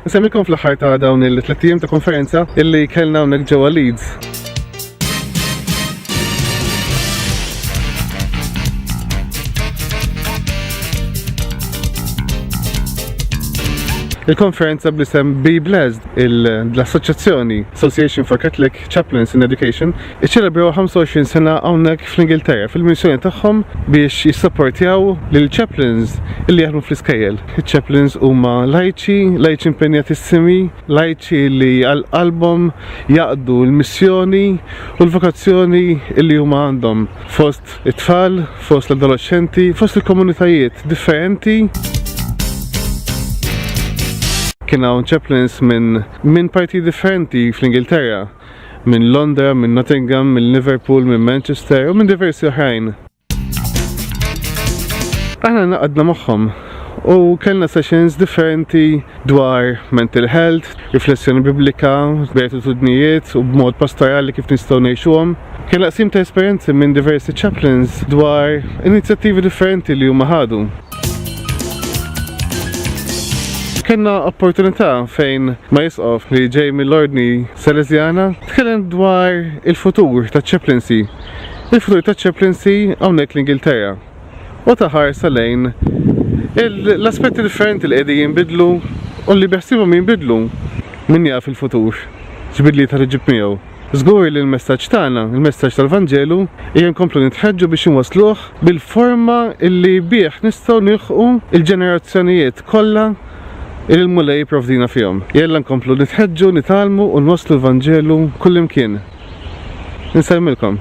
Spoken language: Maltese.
Insemmilkom fl-aħħar ta' dawn il-tliet ijiem ta' konferenza illi kellna hawnhekk ġewwa Leeds. Il-konferenza blisem Be Blessed, l-Assoċjazzjoni Association for Catholic Chaplains in Education iċċelebraw 25 sena hawnhekk fl-Ingilterra fil-missjoni tagħhom biex jissapportjaw lil chaplains li jaħdmu fl-iskejjel. Iċ-chaplains huma lajċi, lajċi impenjatissimi, lajċi li għal qalbhom jaqdu l-missjoni u l-vokazzjoni li huma għandhom fost it-tfal, fost l-adolescenti, fost il-komunitajiet differenti. Kien hawn chaplains minn minn partijiet differenti fl-Ingilterra, minn Londra, minn Nottingham, minn Liverpool, minn Manchester u minn diversi oħrajn. Aħna naqadna magħhom u kellna sessions differenti dwar mental health, riflessjoni biblika, b'gratitudnijiet u b'mod pastorali kif nistgħu ngħixuhom. Kellna qsim ta' esperjenzi minn diversi chaplains dwar inizjattivi differenti li huma ħadu. Kenna opportunità fejn ma jisqof li ġej mill-ordni Salesiana tkellem dwar il-futur ta' ċeplinsi. Il-futur ta' ċeplinsi hawnhekk l-Ingilterra. U ta' ħarsa lejn l-aspetti differenti li qegħdin jinbidlu u li beħsibhom jinbidlu min jaf il-futur. Ġbidli ta' ġib miegħu. Żgur li l-messaġġ tagħna, il-messaġġ tal-Vanġelu, ejja nkomplu nitħeġġu biex inwassluh bil-forma li bih nistgħu nilħqu l-ġenerazzjonijiet kollha li l-Mulej jipprovdina fihom. Jalla nkomplu nitħeġġu, nitgħallmu u nwasslu l-Vanġelu kullimkien. Insellmilkom.